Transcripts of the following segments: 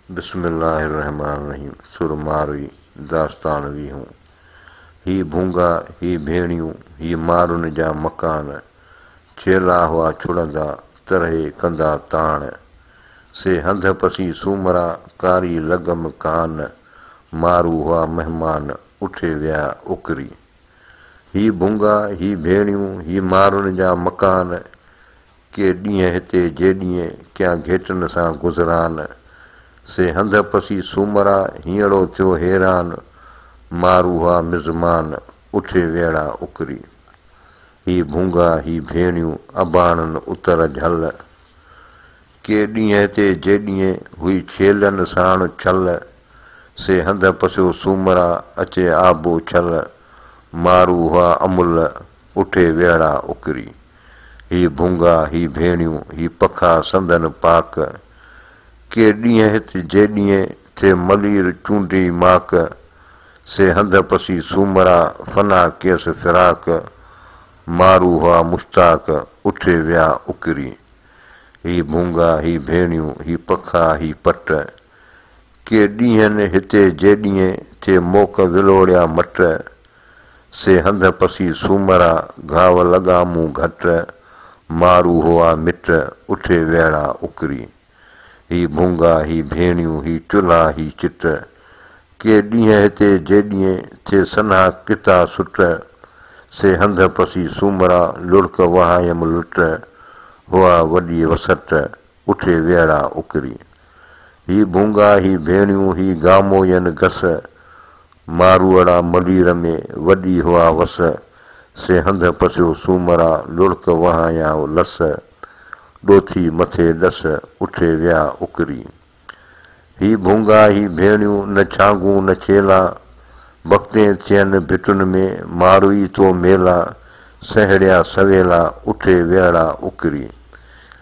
بسم الله الرحمٰن الرحيم سر ماروي داستان ويهون هي ڀونگا هي ڀيڻيون هي مارن جا مڪان چيلا هئا ڇڙندا ترهي ڪندا تاڻ سي هنڌ پسي سومرا ڪاري لڳم ڪان مارو هئا مهمان اٺي ويا اڪري هي ڀونگا هي ڀيڻيون هي مارن جا مڪان ڪي ڏينهن هتي جي ڏينهن ڪيان گهيٽن سان گذران سي هنڌ پسي سومرا هينئڙو ٿيو حيران مان روها مزمان اٺي ويڙا اڪري هي ڀونگا هي ڀيڻيون اباڻن اتر جهل ڪي ڏينهن هتي جي ڏينهن هئي ڇيلن ساڻ ڇل سي هنڌ پسيو سومرا اچي آبو ڇل مان روها امل اٺي ويهڙا اڪري. هي ڀونگا، هي ڀيڻيون، هي پکا سندن پاڪ. ڪي ڏينهن هت جي ڏينهن، ٿئي ملير چونڊي ماڪ. سي هنڌ پسي سومرا، فنا ڪيس فراق. مارو هئا مشتاق، اٺي ويا اڪري. هي ڀونگا، هي ڀيڻيون، هي پکا، هي پٽ. ڪي ڏينهن هت جي ڏينهن، ٿئي موڪ ولوڙيا مٽ. سي هنڌ پسي سومرا، گهاو لڳا مون گهٽ، مارو هئا مٽ، اٺي ويڙا اڪري. هي ڀونگا، هي ڀيڻيون، هي چلها، هي چٽ، ڪي ڏينهن هتي جيڏينهن، ٿئي سنها ڪتا سٽ. سي هنڌ پسي سومرا، لڙڪ وهايم لٽ، هئا وڏي وسٽ، اٺي ويڙها اڪري. هي ڀونگا، هي ڀيڻيون، هي گاموين گس، ماروئڙا ملير ۾، وڏي هئا وس، سي هنڌ پسيو سومرا، لڙڪ وهايائو لس، ڏوٿي مٿي ڏس، اٺي ويا اڪري. هي ڀونگا، هي ڀيڻيون، نه ڇانگون نه ڇيلا، بختين ٿين ڀٽن ۾، ماروئي تو ميلا، سهيڙيا سويلا، اٺي ويڙها اڪري.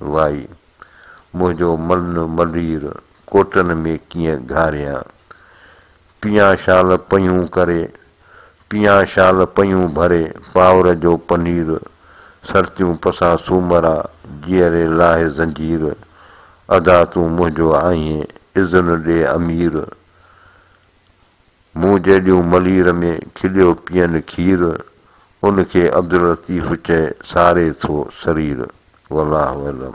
وائي! منهنجو ملن ملير ڪوٽن ۾ ڪيئن گهاريان. پيئان شال پيون ڪري، پيئان شال پيون ڀري پاور جو پنير، سرتيون پسان سومرا، جيئري لاهي زنجير، ادا تون منهنجو آهين، اذن ڏي امير! مون جيڏيون ملير ۾ کليو پيئن کير، ان کي عبداللطيف چئي ساري ٿو سرير. والله اعلم.